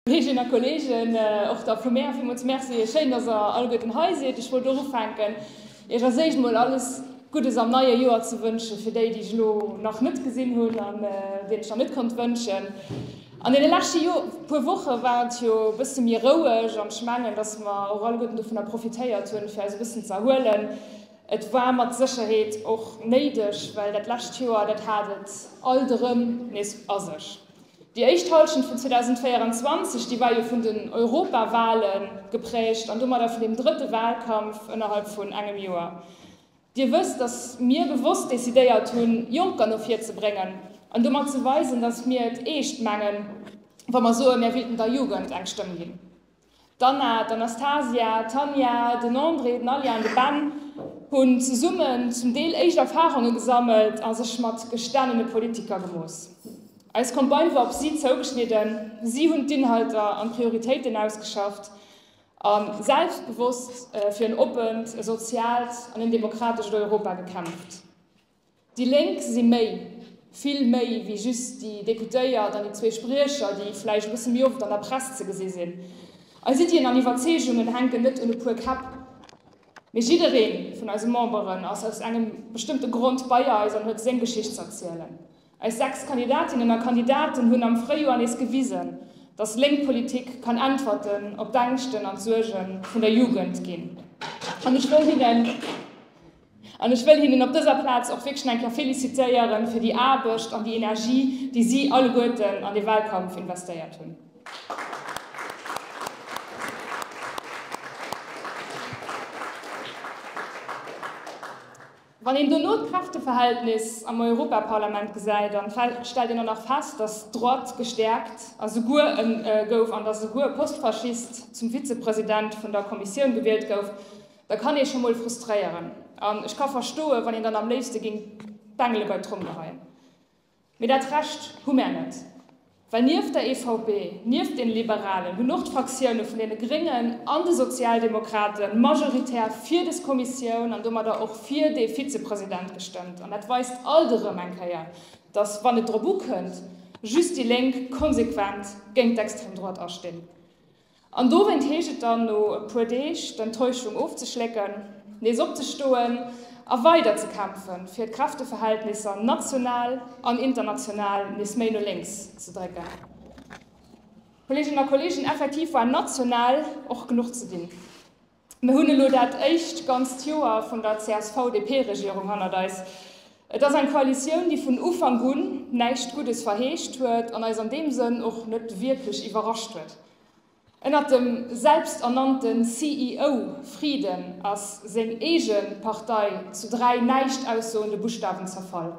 Kolleeginnen a Kolleegen, och der Plumer villmools Merci. Schéin, dass Der alleguerten hei sidd. Ech wollt och ufänken, Iech als éischt emol alles Guddes am neie Joer ze wënsche fir déi, déi ech elo nach net gesinn hunn an deenen ech nach net konnt wënschen. An deene leschte Jor, puer Woche war et jo e bësse méi roueg an ech mengen, dass mer och alleguerten dovunner profitéiert hunn, fir eis e bëssen ze erhuelen. Et war mat Sécherheet och néideg, well dat lescht Joer, dat hat et alt erëm nees a sech. Déi éischt Halschent vun 2024, déi war jo vun den Europawahle geprägt an domadder vun deem drëtte Wahlkampf ënnerhalb vun engem Joer. Dir wësst, dass mir bewosst decidéiert hunn, Jonker no vir ze bréngen an domat ze weisen, dass mir et eescht mengen, wa mer soen, Mär wéilten der Jugend eng Stëmm ginn. D'Anna, d'Anastasia, d'Tanja, den André, den Ali an de Ben hunn zesummen zum Deel éischt Erfarunge gesammelt a sech mat gestaanene Politiker gemooss. Eis Campagne war op si zougeschnidden, si hunn d'Inhalter an d'Prioritéiten ausgeschafft a selbstbewosst fir en oppent, e soziaalt an en demokratescht Europa gekämpft. Déi Lénk si méi, vill méi wéi just déi Deputéiert an déi zwee Spriecher, déi vläicht e bësse méi oft an der Press ze gesi sinn. Eis Iddien an Iwwerzeegungen hänken net un e puer Käpp, mee jidderee vun eise Memberen ass aus engem bestëmmte Grond bei eis an huet seng Geschicht z'erzielen. Eis 6 Kandidatinnen a Kandidaten hunn am Fréijoer nees gewisen, dass lénk Politik kann Äntwerten op d'Ängschten an d'Suerge vun der Jugend ginn. An ech wëll hinnen, an ech wëll hinnen op dëser Plaz och wierklech nach eng Kéier félicitéiere fir déi Aarbecht an déi Energie, déi si alleguerten an de Wahlkampf investéiert hunn. Wann een dono d'Kräfteverhältnis am Europaparlament gesäit, da stellt een och nach fest, datt d'Droite gestäerkt a souguer gouf an datt esouguer e Post-Faschist zum Vizepresident vun der Kommissioun gewielt gouf, da kann ee scho mol frustréieren. An ech ka verstoen, wann een dann am léifste géing d'Bengele bei d'Trommel geheien. Mee dat Recht hu mär net. Well nieft der EVP, nieft den Liberalen hunn och d'Fraktioune vun den Gréngen an de Sozialdemokrate majoritär fir des Kommissioun an domadder och fir dee Vizepresident gestëmmt. An dat weist alt erëm eng Kéier, datt, wann et drop ukënnt, just déi Lénk konsequent géint d'Extrême droite astinn. An dowéint heescht et dann no e puer Deeg, d'Enttäuschung ofzeschlécken, nees opzestoen a weider ze kämpfen, fir d'Kräfteverhältnisser national an international nees méi no lénks ze drécken. Kolleeginnen a Kolleegen, effektiv war national och genuch ze dinn. Mir hunn elo dat éischt ganzt Joer vun der CSV-DP-Regierung hannert eis. Et ass eng Koalitioun, déi vun Ufank un näischt Guddes verheescht huet an eis an deem Sënn och net wierklech iwwerrascht huet. Ënnert dem selbsternannte CEO Frieden ass seng eege Partei zu dräi näischt aussoende Buschtawen zerfall.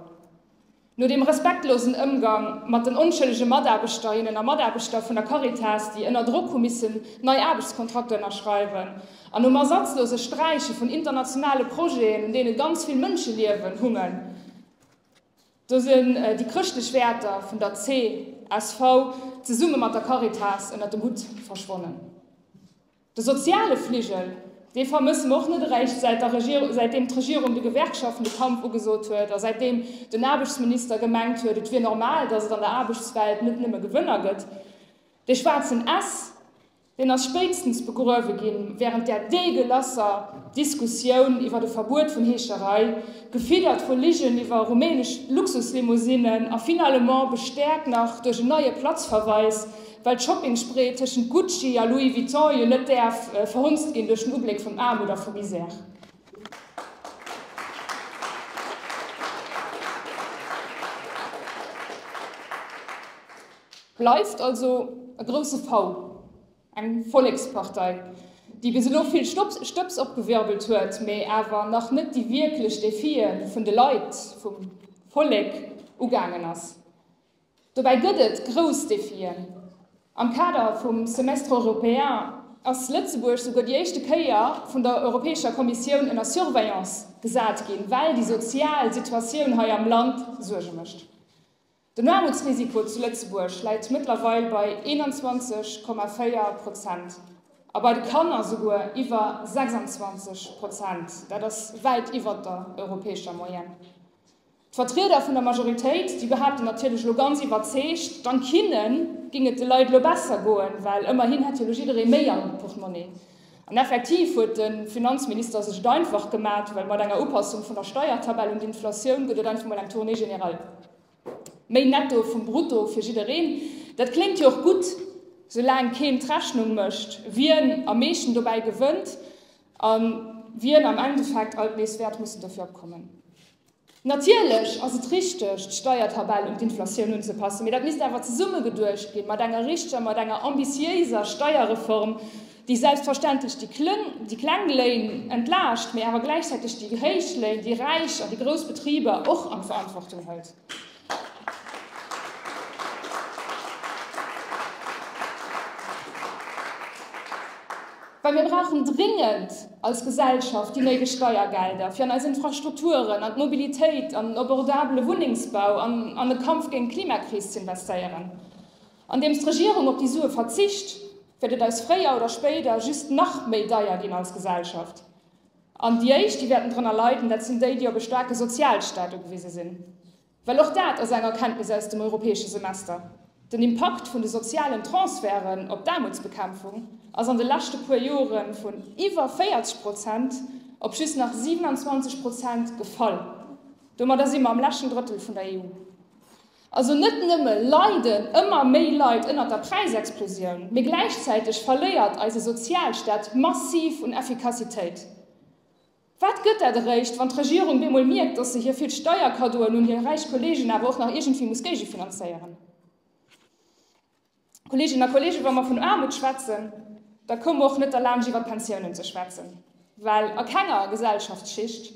No dem respektlosen Ëmgang mat den onschëllege Mataarbechterinnen a Mataarbechter vun der Caritas, déi ënner Drock hu missen nei Aarbechtskontrakter ënnerschreiwen, an nom ersatzlose Sträiche vun internationale Projeten, un deene ganz vill Mënscheliewen hungen, do sinn déi chrëschtlech Wäerter vun der csv zesumme mat der Caritas ënnert dem Hutt verschwonnen. De soziale Fligel, dee vermëssen mer och net eréischt, säitdeem d'Regierung de Gewerkschaften de Kampf ugesot huet a säitdeem den Aarbechtsminister gemengt huet, et wier normal, datt et an der Aarbechtswelt net nëmme Gewënner gëtt. Dee schwaarzen S, deen ass spéitstens begruewe gi wärend där deegelasser Diskussioun iwwert e Verbuet vun Heescherei, gefiddert vu Ligen iwwer rumänesch Luxuslimousinen a finalement bestäerkt nach duerch en neie Platzverweis, Well d'Shopping-Spree tëschent Gucci a Louis Vuitton jo net däerf verhunzt ginn duerch den Ubléck vun Aarmut a vu Misär. Bleift also e grousse Fau, eng Vollekspartei, déi bis elo vill Stëbs opgewirbelt huet, mee awer nach net déi wierklech Defie vun de Leit, vum Vollek ugaangen ass. Dobäi gëtt et grouss Defien. Am Kader vum Semestre européen ass Lëtzebuerg souguer déi éischte Kéier vun der Europäescher Kommissioun ënner Surveillance gesat ginn, well déi sozial Situatioun hei am Land Suerge mécht. Den Aarmutsrisiko zu Lëtzebuerg läit mëttlerweil bei 21,4 Prozent a bei de Kanner souguer iwwer 26 Prozent. Dat ass wäit iwwert der europäescher Moyenne. D'Vertrieder vun der Majoritéit, déi behaapten natierlech elo ganz iwwerzeegt, dank hinne géing et de Leit elo besser goen, well ëmmerhin hätt jo elo jidderee méi am Portmonni. An effektiv huet de Finanzminister sech et einfach gemat, well mat enger Upassung vun der Steiertabell un d'Inflatioun gëtt et einfach mol eng Tournée générale méi netto vum Brutto fir jiddereen. Dat kléngt jo och gutt, soulaang keen d'Rechnung mécht, wien am meeschten dobäi gewënnt a wien am Endeffekt alt nees wäert mussen dofir opkommen. Natierlech ass et richteg, d'Steiertabell un d'Inflatioun unzepassen, mee dat misst awer zesumme geduecht ginn, mat enger richteger, mat enger ambitiéiser Steierreform, déi selbstverständlech déi Klëng, déi kleng Léin entlaascht, mee awer gläichzäiteg déi héich Léin, déi Räich an déi grouss Betriber och an d'Verantwortung hëlt. Well mir brauchen dringend als Gesellschaft déi néideg Steiergelder, fir an eis Infrastrukturen, an d'Mobilitéit, an den abordabele Wunnengsbau an an de Kampf géint d'Klimakris z'investéieren. Andeems d'Regierung op déi Sue verzicht, wäert et eis fréier oder spéider just nach méi deier ginn als Gesellschaft. An déi éischt, déi wäerten drënner leiden, dat sinn déi, déi op e staarke Sozialstaat ugewise sinn. Well och dat ass eng Erkenntnis aus dem Europäesche Semester, Den Impakt vun de sozialen Transferten op d'Aarmutsbekämpfung ass an de leschte puer Jore vun iwwer 40 Prozent op just nach 27 Prozent gefall. Domadder si mer am leschten Drëttel vun der EU. Also net nëmme leiden ëmmer méi Leit ënnert der Präisexplosioun, mee gläichzäiteg verléiert eise Sozialstaat massiv un Effikassitéit. Wat gëtt dat eréischt, wann d'Regierung bemol mierkt, dass se hir vill Steierkaddoen un hir räich Kollegen awer och nach iergendwéi muss géigefinanzéieren? Kolleeginnen a Kolleegen, wa mer vun Aarmut schwätzen, da komme mer och net derlaanscht iwwer d'Pensiounen ze schwätzen, well a kenger Gesellschaftsschicht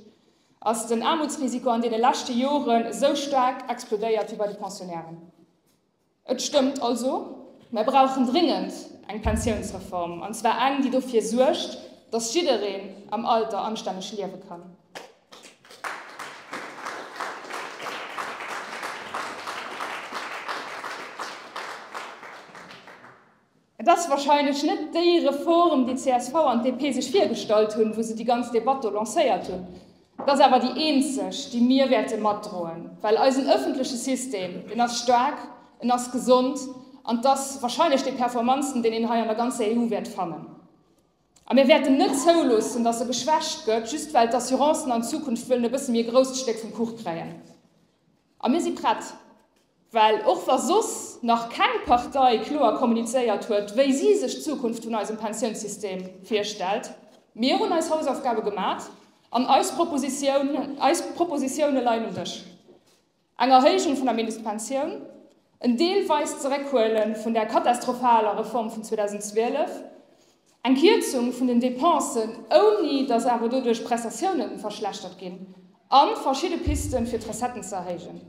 ass den Aarmutsrisiko an deene leschte Joren esou staark explodéiert wéi bei de Pensionnairen. Et stëmmt also, mer brauchen dringend eng Pensiounsreform, an zwar eng, déi dofir suergt, dass jiddereen am Alter anstänneg liewe kann. Et ass wahrscheinlech net déi Reform, déi csv an d'DP sech virgestallt hunn, wou se déi ganz Debatt do lancéiert hunn. Et ass awer déi eenzeg, déi mir wäerte matdroen, well eisen ëffentleche System, deen ass staark, en ass gesond an 't ass wahrscheinlech dee performantsten, deen een hei an der ganzer EU wäert fannen. A mir wäerten net zouloossen, dass e geschwächt gëtt, just well d'Assurancen an Zukunft wëllen e bësse méi e grousst Stéck vum Kuch kréien. A mir si prett. Well och wa soss nach keng Partei kloer kommunizéiert huet, wéi si sech d'Zukunft vun eisem Pensiounssystem virstellt, mir hunn eis Hausaufgabe gemat an eis Propositioune leien um Dësch. Eng Erhéijung vun der Mindestpensioun, en deelweist Zeréckhuele vun der katastrophaler Reform vun 2012, eng Kierzung vun den Depensen, ouni datt awer doduerch d'Prestatioune verschlechtert ginn, a verschidde Piste fir d'Recetten ze erhéijen.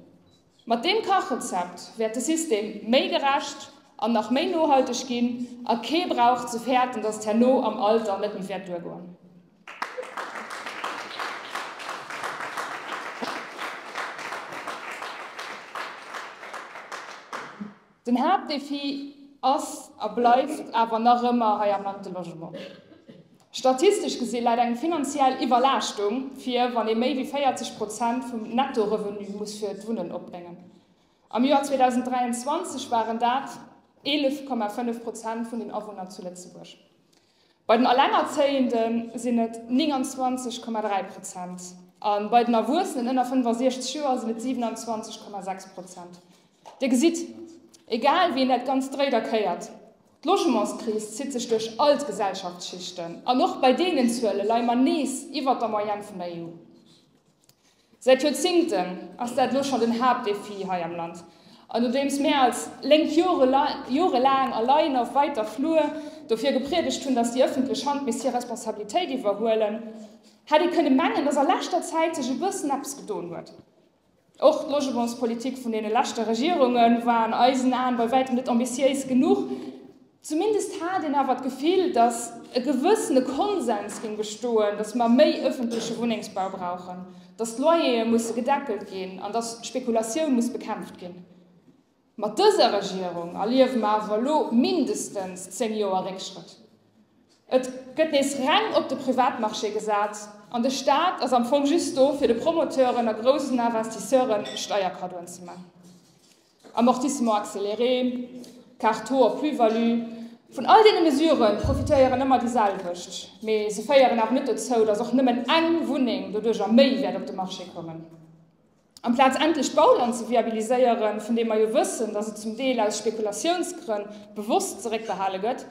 Mat deem Kachrezept wäert de System méi gerecht an nach méi nohalteg ginn a kee brauch ze fäerten, datt herno am Alter net méi wäert duergoen. Den Haaptdefi ass a bleift awer nach ëmmer hei am Land de Logement. Statistesch gesi läit eng finanziell Iwwerlaaschtung vir, wann ee méi wéi 40 Prozent vum Nettorevenu muss fir d'Wunnen opbréngen. Am Joer 2023 waren dat 11,5 Prozent vun den Awunner zu Lëtzebuerg. Bei den Allengerzéiende sinn et 29,3 Prozent an bei den Erwuessenen ënner 65 Joer sinn et 27,6 Prozent. Dir gesitt, egal wéi een dat Ganzt dréit a kéiert, d'Logementskris zitt sech duerch all d'Gesellschaftsschichten an och bei deenen Zuele leie mer nees iwwert der Moyenne vun der EU. Säit Joerzingten ass dat elo schonn den Haaptdéfi hei am Land. An nodeems mär als Lénk jorelaang a Laien a wäiter Flur dofir gepriedegt hunn, datt déi ëffentlech Hand misst hir Responsabilitéit iwwerhuelen, hätt ee kënne mengen, datt a leschter Zäit sech e bëssen eppes gedoen huet. Och d'Logementspolitik vun deene leschte Regierunge war an eisen Aen bei wäitem net ambitiéis genuch. Zumindest hat een awer d'Gefill, datt e gewëssene Konsens géing bestoen, datt mer méi ëffentleche Wunnengsbau brauchen, datt d'Loyere musse gedeckelt ginn an datt d'Spekulatioun muss bekämpft ginn. Mat dëser Regierung erliewe mer awer elo mindestens zéng Joer Réckschrëtt. Et gëtt nees reng op de Privatmarché gesat an de Staat ass am Fong just do, fir de Promoteuren a groussen Investisseuren Steierkaddoen ze maachen. Amortissement accéléré, Carte taux op Plus-value, vun all deene Mesurë profitéieren ëmmer déi selwecht, mee se féieren awer net dozou, dass och nëmmen eng Wunneng doduercher méi wäert op de Marché kommen. Amplaz endlech d'Bauland ze viabiliséieren, vun deem mer jo wëssen, dass et zum Deel aus Spekulatiounsgrënn bewosst zeréckbehale gëtt,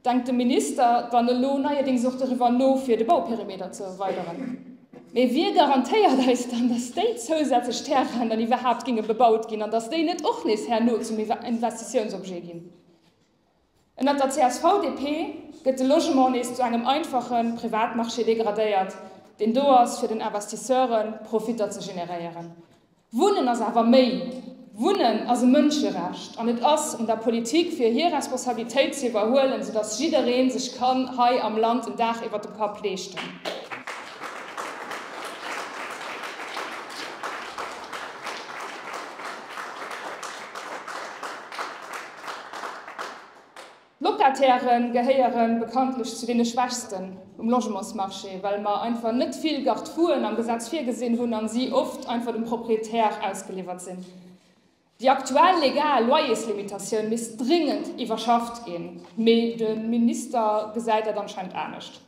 Denkt de Minister dann elo neierdéngs och doriwwer no, fir de Bauperimeter ze erweideren? Mee wie garantéiert eis dann, datt déi zousätzlech Terrainen dann iwwerhaapt géinge bebaut ginn an datt déi net och nees herno zum Investitiounsobjet ginn? Ënnert der CSV-DP gëtt de Logement nees zu engem einfache Privatmarché degradéiert, deen do ass, fir den Investisseuren Profitter ze generéieren. Wunnen ass awer méi. Wunnen ass e Mënscherecht an et ass un der Politik fir hir Responsabilitéit ze iwwerhuelen, soudass jidderee sech kann hei am Land en Daach iwwert dem Kapp leeschten. D'Locatairë gehéiere bekanntlech zu deene Schwächsten um Logementsmarché, well mer einfach net vill Garde-fouën am Gesetz virgesinn hunn a si oft einfach dem Proprietär ausgeliwwert sinn. Déi aktuell legal Loyerslimitatioun misst dringend iwwerschafft ginn, mee de Minister gesäit dat anscheinend anescht.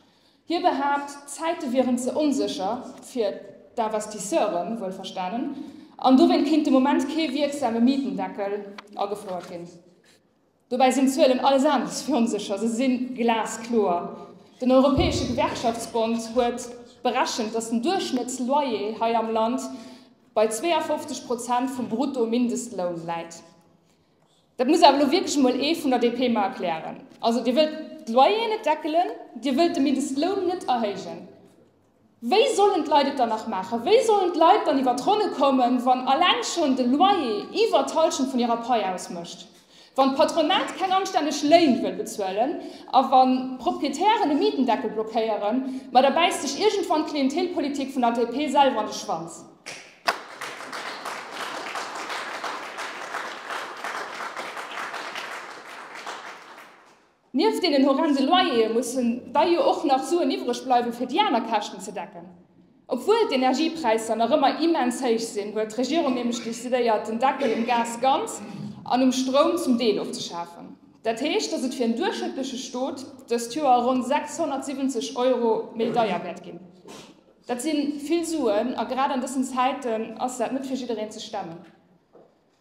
Hie behaapt, d'Zäite wieren ze onsécher, fir d'Investisseure wuelverstanen, an dowéint kéint de Moment kee wierksame Mietendeckel agefouert ginn. Dobäi sinn d'Zuelen alles anescht wéi onsécher, se si glaskloer. Den Europäesche Gewerkschaftsbond huet berechent, datt den Duerchschnëttsloyer hei am Land bei 52 Prozent vum Bruttomindestloun läit. Dat muss awer elo wierklech emol ee vun der DP mer erklären. Also Dir wëllt d'Loyeren net deckelen, Dir wëllt de Mindestloun net erhéijen. Wéi sollen d'Leit et dann nach maachen? Wéi sollen d'Leit dann iwwer d'Ronne kommen, wann alleng schonn de Loyer iwwer d'Halschent vun hirer Pai ausmécht, wann d'Patronat keng anstänneg Léin wëll bezuelen a wann d'Proprietären e Mietendeckel blockéieren? Ma da bäisst sech iergendwann d'Klientelpolitik vun der DP selwer an de Schwanz. Nieft deenen horrende Loyere mussen da jo och nach Suen iwwreg bleiwe fir déi aner Käschten ze decken. Obwuel d'Energiepräisser nach ëmmer immens héich sinn, huet d'Regierung nämlech decidéiert den Deckel um Gas ganz an um Stroum zum Deel ofzeschafen. Dat heescht, datt et fir en duerchschnëttleche Stot dëst Joer ronn 670 Euro méi deier wäert ginn. Dat si vill Suen a grad an dësen Zäiten ass dat net fir jiddereen ze stemmen.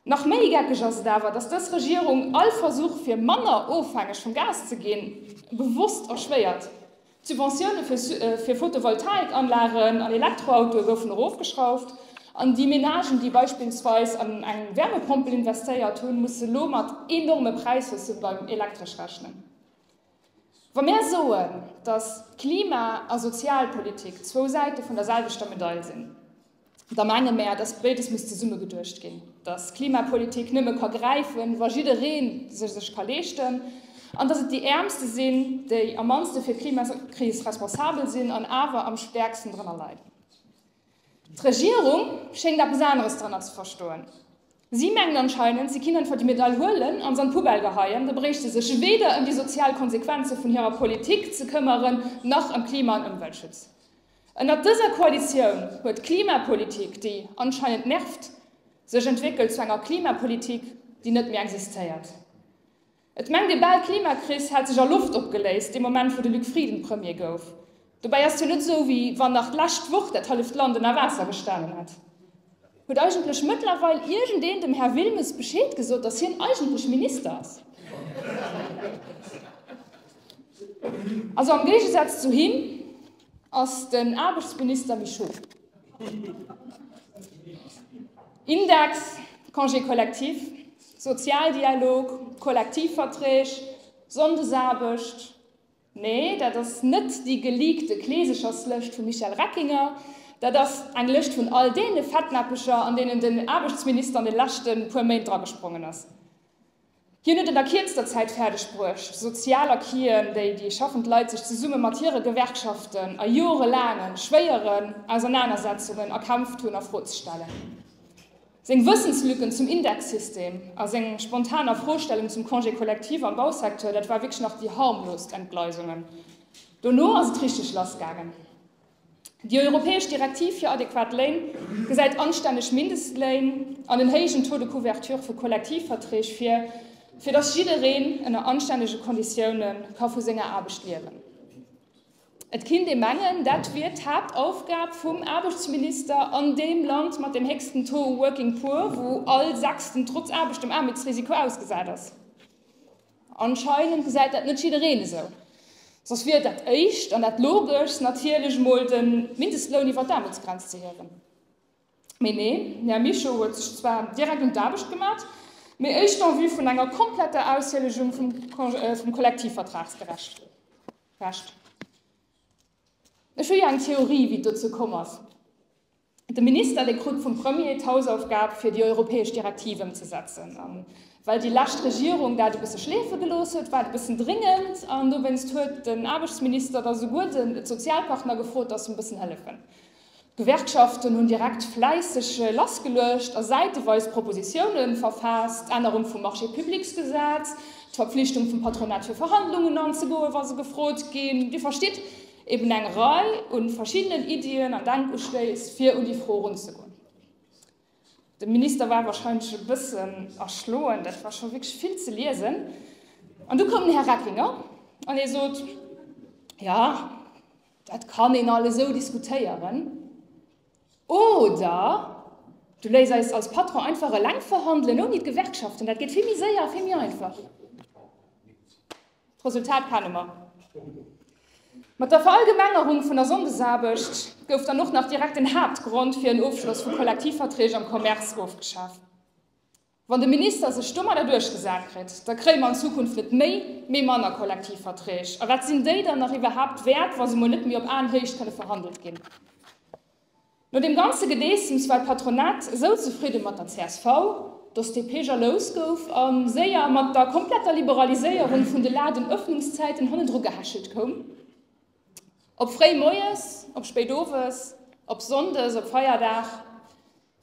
Nach méi geckeg ass et awer, datt dës Regierung all Versuch fir manner ofhängeg vum Gas ze ginn, bewosst erschwéiert. D'Subventioune fir Photovoltaikanlagen an Elektroautoe goufen erofgeschrauft, an déi Menagen, déi beispillsweis an eng Wärmepompel investéiert hunn, musse lo mat enorme Präishausse beim Elektresch rechnen. Wa mär soen, datt Klima a Sozialpolitik zwou Säite vun der selwechter Medail sinn, da menge mär, datt béides muss zesumme geduecht ginn, datt Klimapolitik nëmme ka gräifen, wa jidderee se sech ka leeschten, an datt et déi Äermste sinn, déi am mannste fir d'Klimakris responsabel sinn an awer am stäerksten drënner leiden. D'Regierung schéngt eppes aneres drënner ze verstoen. Si mengt anscheinend, si kinnt einfach déi Medail huelen an se an d'Poubelle geheien, da bréicht se sech weder ëm déi sozial Konsequenze vun hirer Politik ze këmmeren, nach ëm Klima an Ëmweltschutz. Ënnert dëser Koalitioun huet d'Klimapolitik, déi anscheinend nervt, sech entwéckelt zu enger Klimapolitik, déi net méi existéiert. Et mengt ee bal, d'Klimakris hätt sech a Loft opgeléist, dee Moment wou de Luc Frieden Premier gouf. Dobäi ass et jo net esou, wéi wann nach d'lescht Woch dat halleft Land ënner Waasser gestanen hätt. Huet eigentlech mëttlerweil iergendeen dem Här Wilmes Bescheed gesot, datt hien eigentlech Minister ass? Also am Géigesaz zu him ass den Aarbechtsminister méi schuf. Index, Congé collectif. Sozialdialog, Kollektivverträg, Sonndesaarbecht, nee, dat ass net déi geleakte Kleesecherslëscht vum Michel Reckinger, dat ass eng Lëscht vun all deene Fettnäppecher, an deenen den Aarbechtsminister an de leschte puer Méint dragesprongen ass. Hien huet et a kierzter Zäit fäerdeg bruecht, Sozialacquisen, déi déi schaffend Leit sech zesumme mat hire Gewerkschaften a jorelaange schwéieren Ausernanersetzungen erkämpft hunn, a Fro ze stellen. Seng Wëssenslücken zum Indexsystem a seng spontan Afrostellung zum Congé collectif am Bausecteur, dat war wierklech nach déi harmlost Entgleisungen. Dono ass et richteg lass gaangen. Déi europäesch Direktiv fir adequat Léin gesäit anstänneg Mindestléin an en héijen Taux de couverture vu Kollektivverträg vir, fir datt jiddereen ënner anstännege Konditioune ka vu senger Aarbecht liewen. Et kinnt ee mengen, dat wier d'Haaptaufgab vum Aarbechtsminister an deem Land mat deem héchsten Taux working poor, wou all Sechsten trotz Aarbecht dem Aarmutsrisiko ausgesat ass. Anscheinend gesäit dat net jiddereen esou. Soss wier dat Éischt an dat Logeschst natierlech emol de Mindestloun iwwer d'Aarmutsgrenz ze hiewen. Mee nee, den Här Mischo huet sech zwar direkt un d'Aarbecht gemat, mee éischt en vue vun enger kompletter Aushielegung vum Kollektivvertragsgerecht. Recht. Ech hu jo eng Theorie, wéi et dozou komm ass. De Minister, dee krut vum Premier d'Hausaufgab, fir déi europäesch Direktiv ëmzesetzen. A well déi lescht Regierung dat e bësse schleefe gelooss huet, war et e bëssen dringend. An dowéinst huet den Aarbechtsminister da souguer de Sozialpartner gefrot, datt se e bëssen hëllefen. D'Gewerkschaften hunn direkt fläisseg lassgeluecht a säiteweis Propositioune verfaasst, d'Ännerung vum Marché-publics-Gesetz, d'Verpflichtung vum Patronat fir Verhandlungen anzegoen, wa se gefrot ginn. Dir verstitt, eben eng Rei u verschiddenen Iddien an Denkustéiss, fir un déi Fro erunzegoen. De Minister war wahrscheinlech e bëssen erschloen, dat war scho wierklech vill ze liesen. An du koum den Här Recklinger an hie sot, Jo, Dat kann een alles esou diskutéieren. Oder du léiss eis als Patron einfach eleng verhandelen, ouni d'Gewerkschaften. Dat geet vill méi séier a vill méi einfach. D'Resultat kenne mer. Mat der Verallgemengerung vun der Sonndesaarbecht gouf dann och nach direkt den Haaptgrond fir en Ofschloss vu Kollektivverträg am Commerce ofgeschaf. Wann de Minister sech domadder duerchgesat kritt, da kréie mer an Zukunft net méi, mee manner Kollektivverträg. A wat sinn déi dann nach iwwerhaapt wäert, wa se mol net méi op Aenhéicht kënne verhandelt ginn? No deem ganze Gedeessems war d'Patronat esou zefridde mat der csv, dass d'DP jalous gouf a séier mat der kompletter Liberaliséierung vun de Ladenöffnungszäiten hannendru gehechelt koum. Op fréi moies, op spéit owes, op sonndes, op Feierdag.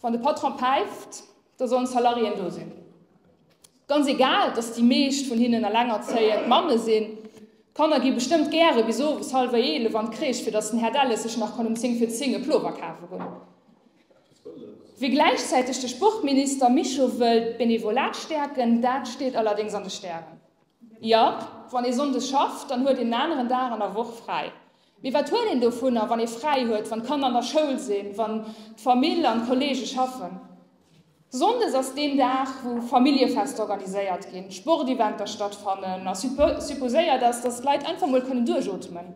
Wann de Patron päift, da sollen d'Salariéen do sinn. Ganz egal, dass déi meescht vun hinnen elengerzéiend Mamme sinn. D'Kanner gi bestëmmt gäre bis owes hallwer eelef an d'Crèche, fir dass den Här Delles sech nach kann um zéng vir zéng e Plover kafe goen. Wie gläichzäiteg de Sportminister Mischo wëllt d'Benevolat stäerken, dat steet allerdéngs an de Stären. Jo, wann ee sonndes schafft, dann huet een en aneren Dag an der Woch fräi. Mee wat huet een dovunner, wann ee fräi huet, wann d'Kanner an der Schoul sinn, wann d'Famill an d'Kolleege schaffen? Sonndes ass deen Dag, wou Familljefester organiséiert ginn, Sporteventer stattfannen a supposéiert ass, dass d'Leit einfach mol kënnen duerchootmen.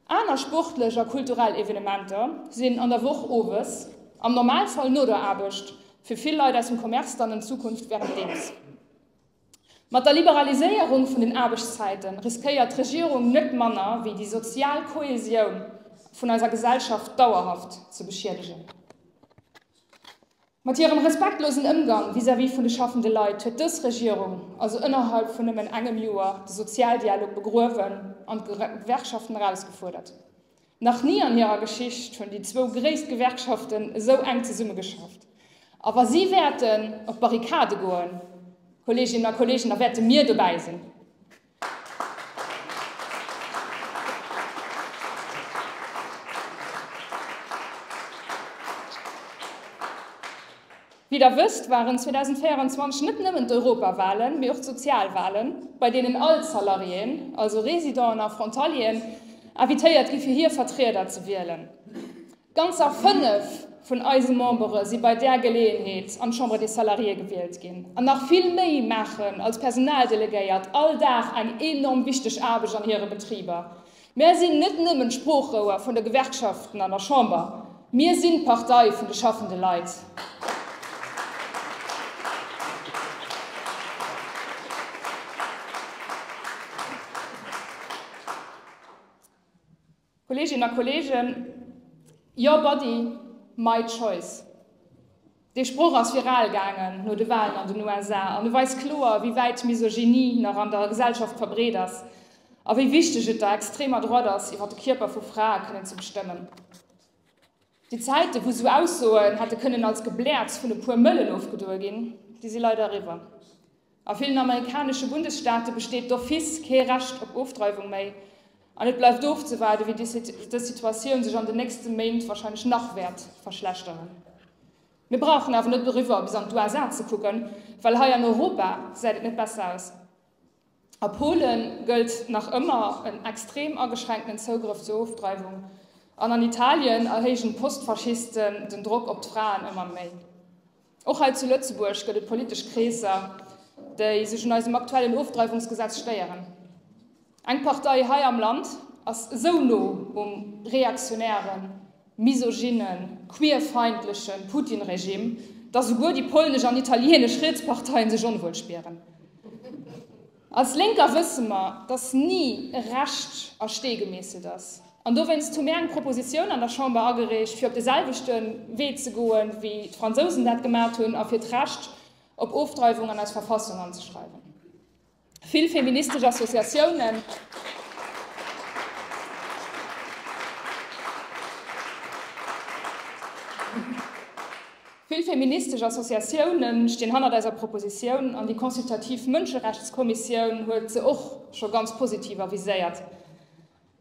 Aner sportlech a kulturell Evenementer sinn an der Woch owes, am Normalfall no der Aarbecht, fir vill Leit aus dem Commerce dann an Zukunft während deems. Mat der Liberaliséierung vun den Aarbechtszäiten riskéiert d'Regierung net manner wéi déi sozial Kohäsioun vun eiser Gesellschaft dauerhaft ze beschiedegen. Mat hirem respektlosen Ëmgang vis-à-vis vun de schaffende Leit huet dës Regierung also ënnerhalb vun nëmmen engem Joer de Sozialdialog begruewen an d'Gewerkschaften erausgefuerdert. Nach ni an hirer Geschicht hunn déi zwou gréisst Gewerkschaften esou enk zesumme geschafft. A wa si wäerten op d'Barrikade goen, Kolleeginnen a Kolleegen, da wäerte mir dobäi sinn. Wéi der wësst, waren 2024 net nëmmen d'Europawahlen, mee och d'Sozialwahlen, bei deenen all d'Salariéen, also Residenten a Frontalieren, invitéiert gi fir hir Vertrieder ze wielen. Ganzer fënnef vun eise Membere si bei där Geleeënheet an d'Chambre des Salariés gewielt ginn. An nach vill méi maachen als Personaldelegéiert all Dag eng enorm wichteg Aarbecht an hire Betriber. Mär sinn net nëmmen d'Sproochrouer vun de Gewerkschaften an der Chamber, mir sinn d'Partei vun de schaffende Leit. Kolleeginnen a Kolleegen, your body, my choice. Dee Sproch ass viral gaangen no de Walen an den USA an e weist kloer, wéi wäit d'Misogynie nach an der Gesellschaft verbreet ass a wéi wichteg et der extremer Droite ass, iwwer de Kierper vu Frae kënnen ze bestëmmen. Déi Zäiten, wou esou Aussoen hätte kënnen als Gebläerz vun e puer Mëllen ofgedoe ginn, déi si leider eriwwer. A villen amerikanesche Bundesstaate besteet d'office kee Recht op Ofdreiwung méi. An et bleift ofzewaarden, wéi dës Situatioun sech an den nächste Méint warscheinlech nach wäert verschlechteren. Mir brauchen awer net doriwwer bis an d'USA ze kucken, well hei an Europa gesäit et net besser aus. A Pole gëllt nach ëmmer en extrem ageschränkten Zougrëff zur Ofdreiwung. An an Italien erhéijen d'Postfaschisten den Drock op d'Fraen ëmmer méi. Och hei zu Lëtzebuerg gëtt et politesch Kreesser, déi sech un eisem aktuellen Ofdreiwungsgesetz stéieren. Eng Partei hei am Land ass esou no um reaktionären, misogynen, queerfeindlechen Putin-Regime, datt esouguer déi polnesch an italienesch riets Parteien sech onwuel spieren. Als Lénker wësse mer, datt ni e Recht a Stee gemeesselt ass. An dowéinst hu mir eng Propositioun an der Chamber agereecht, fir op de selwechte Wee ze goe wéi d'Fransousen dat gemaacht hunn a fir d'Recht op Ofdreiwung an eis Verfassung anzeschreiwen. Vill feministesch Associatiounen, Vill feministesch Associatioune stinn hannert eiser Propositioun an déi consultativ Mënscherechtskommissioun huet se och scho ganz positiv aviséiert.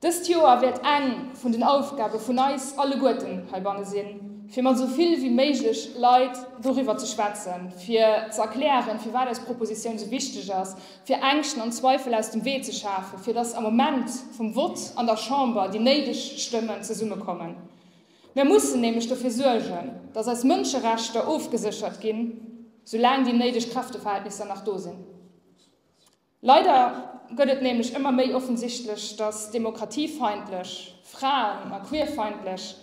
Dëst Joer wäert eng vun den Aufgabe vun eis alleguerten heibanne sinn, fir mat esou vill wéi méiglech Leit doriwwer ze schwätzen, fir ze erklären, firwat eis Propositioun esou wichteg ass, fir Ängschten an Zweifel aus dem Wee ze schafen, fir dass am Moment vum Vott an der Chamber déi néideg Stëmmen zesummekommen. Mir mussen nämlech dofir suergen, datt eis Mënscherechter ofgeséchert ginn, soulaang déi néideg Kräfteverhältnisser nach do sinn. Leider gëtt et nämlech ëmmer méi offensichtlech, datt demokratiefeindlech, fraen a queerfeindlech,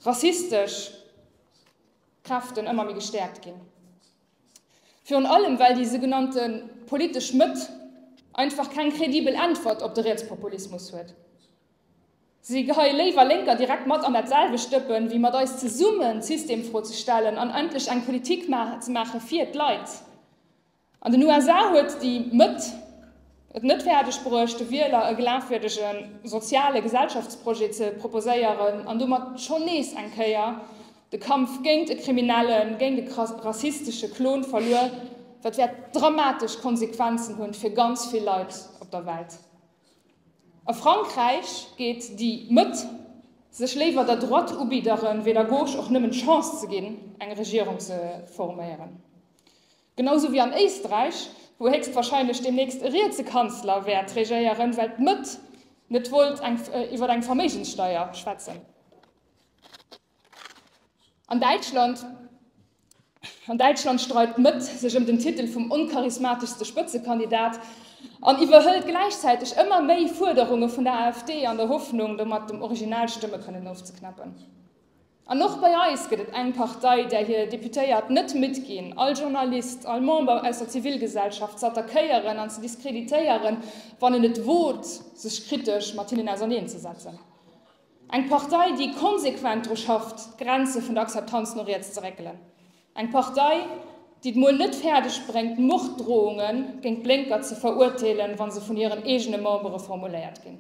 rassistesch Kräften ëmmer méi gestäerkt ginn. Virun allem, well déi sougenannte politesch Mëtt einfach keng kredibel Äntwert op de Rietspopulismus huet. Si geheie léiwer Lénker direkt mat an dat selwecht Dëppen, wéi mat eis zesummen d'Systemfro ze stellen an endlech eng Politik ze maache fir d'Leit. An den USA huet déi Mëtt et net fäerdeg bruecht, de Wieler e glafwierdege soziale Gesellschaftsprojet ze proposéieren an domat schonn nees eng Kéier de Kampf géint e kriminellen, géint e rassistesche Klon verluer. Dat wäert dramatesch Konsequenzen hunn fir ganz vill Leit op der Welt. A Frankräich geet déi Mëtt sech léiwer der Droite ubidderen, wéi der Gauche och nëmmen d'Chance ze ginn, eng Regierung ze forméieren. Genau sou wéi an Éisträich, wou héchstwahrscheinlech deemnächst e rietse Kanzler wäert regéieren, well d'Mëtt net wollt iwwer eng Verméigenssteier schwätzen. An Däitschland An Däitschland streidt d'Mëtt sech ëm den Titel vum oncharismateschste Spëtzekandidat an iwwerhëlt gläichzäiteg ëmmer méi Fuerderunge vun der AfD an der Hoffnung, domat dem Original Stëmme kënnen ofzeknappen. An och bei eis gëtt et eng Partei, där hir Deputéiert net midd ginn, all Journalist, all Member aus der Zivilgesellschaft z'attackéieren an ze diskreditéieren, wann en et wot, sech kritesch mat hinnen auserneenzesetzen. Eng Partei, déi konsequent dru schafft, d'Grenze vun der Akzeptanz no riets ze réckelen. Eng Partei, déi et mol net fäerdeg bréngt, Morddrohunge géint d'Blénker ze veruerteelen, wa se vun hiren eegene Membere formuléiert ginn.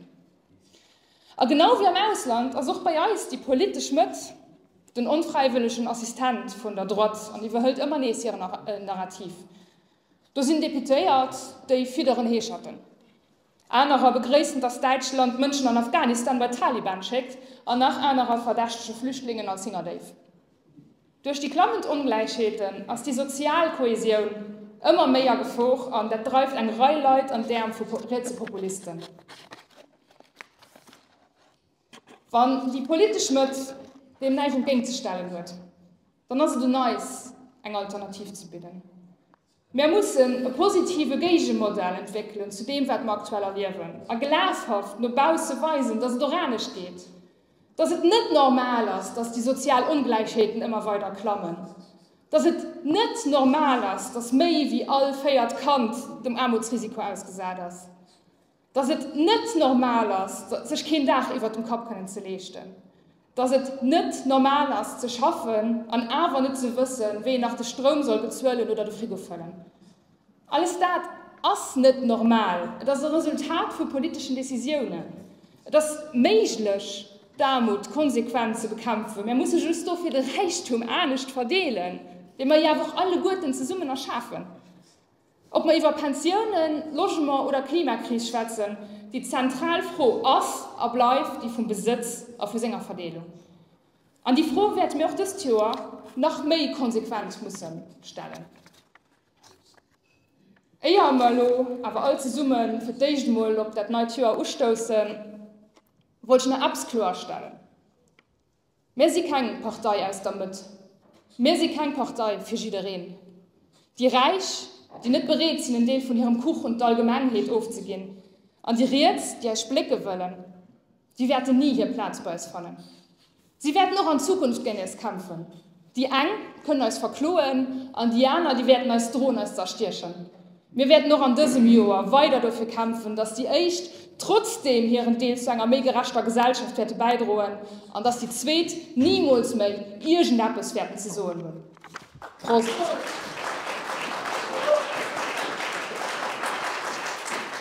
A genau wéi am Ausland ass och bei eis déi politesch Mëtt den onfräiwëllegen Assistent vun der Droite an iwwerhëlt ëmmer nees hiren Narrativ. Do sinn Deputéiert, déi fidderen Heescherten. Anerer begréissen, datt Däitschland Mënschen an Afghanistan bei d'Taliban schéckt an nach anerer verdächtege Flüchtlingen als Hingerdéif. Duerch déi klammend Ongläichheeten ass déi sozial Kohesioun ëmmer méi a Gefor an dat dreift eng Rei Leit an d'Äerm vu rietse Populisten. Wann déi politesch Mëtt deem näischt entgéingt ze stellen huet, dann ass et un eis, eng Alternativ ze bidden. Mär mussen e positive Géigemodell entwéckelen zu deem, wat mer aktuell erliewen, a glashaft no bausse weisen, datt et och anescht geet, datt et net normal ass, datt déi sozial Ongläichheeten ëmmer weider klammen, datt et net normal ass, datt méi wéi all véiert Kand dem Aarmutsrisiko ausgesat ass. Dass et net normal ass, sech keen Daach iwwert dem Kapp kënnen ze leeschten. Dass et net normal ass, ze schaffen an awer net ze wëssen, wéi een nach de Stroum soll bezuelen oder de Frigo fëllen. Alles dat ass net normal. Et ass e Resultat vu politeschen Decisiounen. Et ass méiglech, d'Aarmut konsequent ze bekämpfen. Mär musse just dofir de Räichtum anescht verdeelen, dee mer jo awer och alleguerten zesummen erschafen. Ob mer iwwer Pensiounen, Logement oder Klimakris schwätzen, déi zentral Fro ass a bleift déi vum Besëtz a vu senger Verdeelung. An déi Fro wäerte mir och dëst Joer nach méi konsequent musse stellen, éier mer elo awer all zesumme fir d'éischt emol op dat neit Joer ustoussen, wollt ech nach eppes kloerstellen. Mir si keng Partei aus der Mëtt. Mir si keng Partei fir jiddereen. Déi Räich, déi net bereet sinn en Deel vun hirem Kuch un d'Allgemengheet ofzeginn, an déi Riets, déi eis splécke wëllen, déi wäerten ni hir Plaz bei eis fannen. Si wäerten och an Zukunft géint eis kämpfen. Déi eng kënnen eis verkloen an déi aner, déi wäerten eis droen, eis z'erstiechen. Mir wäerten och an dësem Joer weider dofir kämpfen, dass déi Éischt trotzdeem hiren Deel zu enger méi gerechter Gesellschaft wäerte bäidroen an dass déi Zweet nimools méi iergendeppes wäerten ze soen hunn. Prost!